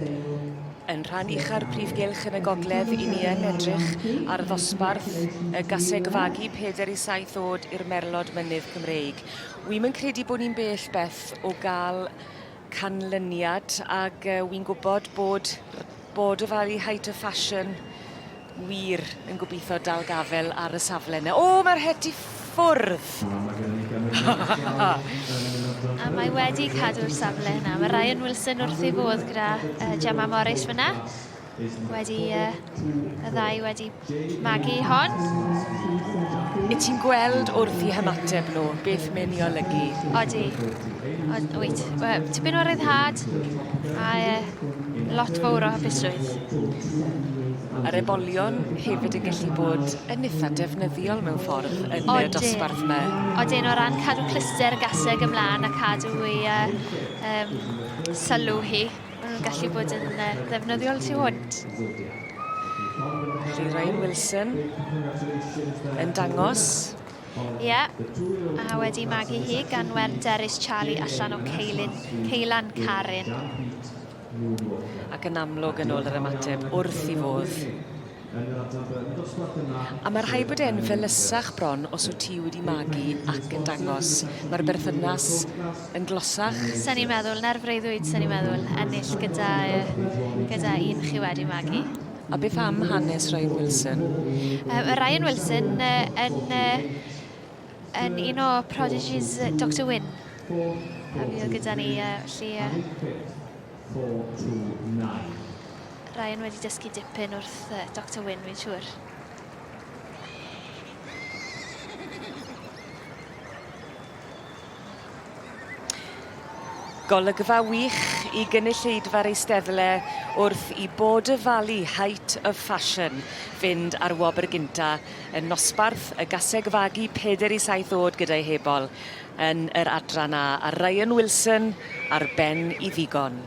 Yn rhan ucha'r prif gylch yn y gogledd, i ni yn edrych ar ddosbarth y gaseg fagu peder i saith oed i'r merlod mynydd Cymreig. Wy'n yn credu bod ni'n bell beth o gael canlyniad ac uh, wy'n gwybod bod bod y Valley Height of Fashion Wir yn gobitho dal gafel ar y safle 'na. O mae'r het i ffwrdd! A mae wedi cadw'r safle yna. Mae Ryan Wilson wrth ei fodd gyda uh, Gemma Morris fyna. Wedi uh, y ddau wedi magu hon. I ti'n gweld wrth i hymateb nhw beth mae'n ei olygu? Odi. Odi. Wyt. Tipyn o ryddhad. A uh, lot fawr o hapusrwydd. Yr ebolion hefyd yn gallu bod yn eitha defnyddiol mewn ffordd yn y dosbarth yma. Odyn, o ran cadw cluster y gaseg ymlaen a cadw ei uh, um, sylw hi, maen nhw'n gallu bod yn uh, ddefnyddiol tu hwnt. Felly Ryan Wilson yn dangos Ie, a wedi magu hi gan wer derys Charlie allan o ceilun, ceilan Carin. Ac yn amlwg yn ôl yr ymateb, wrth i fodd. A mae rhai bod e'n felysach bron os wyt ti wedi magu ac yn dangos. Mae'r berthynas yn glosach. Sa'n i'n meddwl, na'r freuddwyd sa'n i'n meddwl, ennill gyda, gyda un chi wedi magu. A beth am hanes Ryan Wilson? Um, Ryan Wilson uh, yn, uh, yn un o prodigies Dr Wynne. A fi oedd gyda ni, uh, lle... Uh, Ryan wedi dysgu dipyn wrth uh, Dr Wynne, fi'n siŵr. Golygfa wych i gynulleidfa'r Eisteddle wrth i Bod y Valley Height of Fashion fynd ar wobr gynta yn nosbarth y gaseg fagu peder i saith oed gyda'i hebol yn yr adran A a Ryan Wilson ar ben i ddigon.